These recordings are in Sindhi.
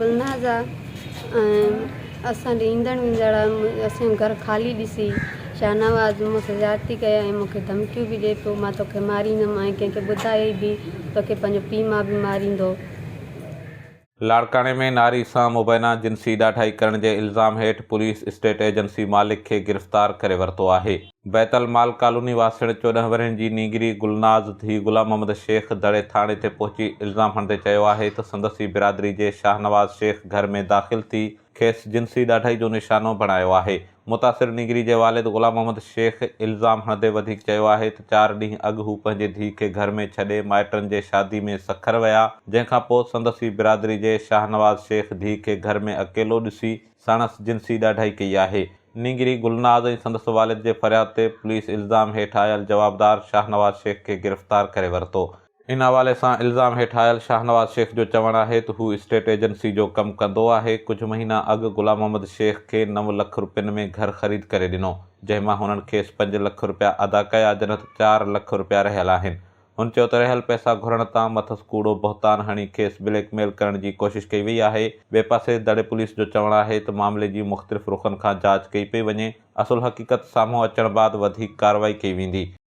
گلناز آ ۽ اسان ڏي ايندڙ ويندڙ اسان جو گهر خالي ڏسي شاهنواز مون سان زيادتي ڪئي ۽ مون کي ڌمڪيون به ڏي پيو مان توکي ماريندم ۽ ڪنهن کي ٻڌايئي به توکي پنهنجو پيء ماء به ماريندو. لاڙڪاڻي ۾ ناري سان مبينا جنسي ڏاڍائي ڪرڻ جي الزام هيٺ پوليس اسٽيٽ ايجنسي مالڪ کي گرفتار ڪري ورتو آهي. بيت المال ڪالوني واسڻ چوڏهن ورهين جي نينگري گلناز ڌيء غلام محمد شيخ دڙي ٿاڻي تي پهچي الزام هڻندي چيو آهي ته سندس ئي برادري جي شاهنواز شيخ گهر ۾ داخل ٿي کيس جنسي ڏاڍائي جو نشانو بڻايو آهي. متاثر نينگري جي والد غلام محمد شيخ الزام هڻندي وڌيڪ چيو آهي ته چار ڏينهن اڳ هو پنهنجي ڌيء کي گهر ۾ ڇڏي مائٽن جي شادي ۾ سکر ويا جنهن کان پوء سندس ئي برادري جي شاهنواز شيخ ڌيء کي گهر ۾ اڪيلو ڏسي ساڻس جنسي ڏاڍائي ڪئي آهي. نينگري گلناز ۽ سندس والد جي فرياد تي پوليس الزام هيٺ آيل جوابدار شاهنواز شيخ کي گرفتار ڪري ورتو. ان حوالي سان الزام هيٺ آيل شاهنواز شيخ جو چوڻ آهي ته هو اسٽيٽ ايجنسي جو ڪم ڪندو آهي، ڪجهه مهينا اڳ غلام محمد شيخ کي نو لک رپين ۾ گهر خريد ڪري ڏنو، جنهن مان هنن کيس پنج لک رپيا ادا ڪيا جڏهن ته چار لک رپيا رهيل آهن، هن چيو ته رهيل پئسا گهرڻ تان مٿس ڪوڙو بهتان هڻي کيس بليڪ ميل ڪرڻ جي ڪوشش ڪئي وئي آهي، ٻئي پاسي دڙي پوليس جو چوڻ آهي ته معاملي جي مختلف رخن کان جاچ ڪئي پئي وڃي، اصل حقيقت سامهون اچڻ بعد وڌيڪ ڪارروائي ڪئي ويندي.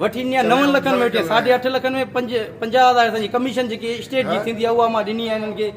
وٺي ڏني آهي نون لکن ۾ وٺي ساڍي اٺ لکن ۾ پنج پنجاهه هزار اسان جي ڪميشن جيڪي اسٽيٽ جي ٿيندي آهي اها مان ڏني آهي انهن کي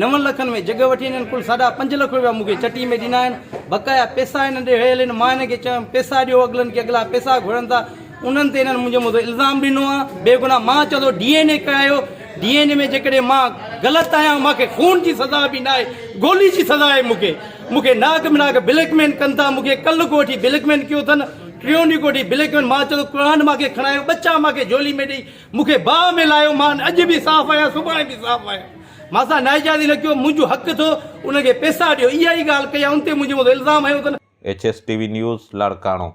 نون لکن ۾ جڳهه وٺي انهن ڪل ساڍا پنج لک روپيا مون کي چٽي ۾ ڏنا آهن بقايا پيسا انهن ڏي هيل آهن مان انهن کي چيم پيسا ڏيو اڳلن کي اڳلا پيسا گهرن ٿا انهن تي انهن منهنجي مٿو الزام ڏنو آهي بيگناهه مان چوان ٿو ڊي اين اي ڪرايو ڊي اين اي ۾ جيڪڏهن مان غلط آهيان مون کي خون جي سزا به ناهي گولي جي سزا آهي مون کي مون کي ناڪ بناڪ بليڪ مين ڪن ٿا مون کي ڪل کو وٺي بليڪ مين ڪيو اٿن ٽيون ڏينهن ڪوٺي بليڪ مين مان چيو قرآن مان کي کڻايو ٻچا مان کي جهولي ۾ ڏئي مون کي باهه ۾ لاهيو مان اڄ به صاف آهيان سڀاڻي به صاف آهيان مان سان نااجازي نه ڪيو منهنجو حق ٿو انهن کي پيسا ڏيو اها ئي ڳالهه ڪئي ان تي منهنجي مٿان الزام هنيو اٿن. H S T V news Larkana.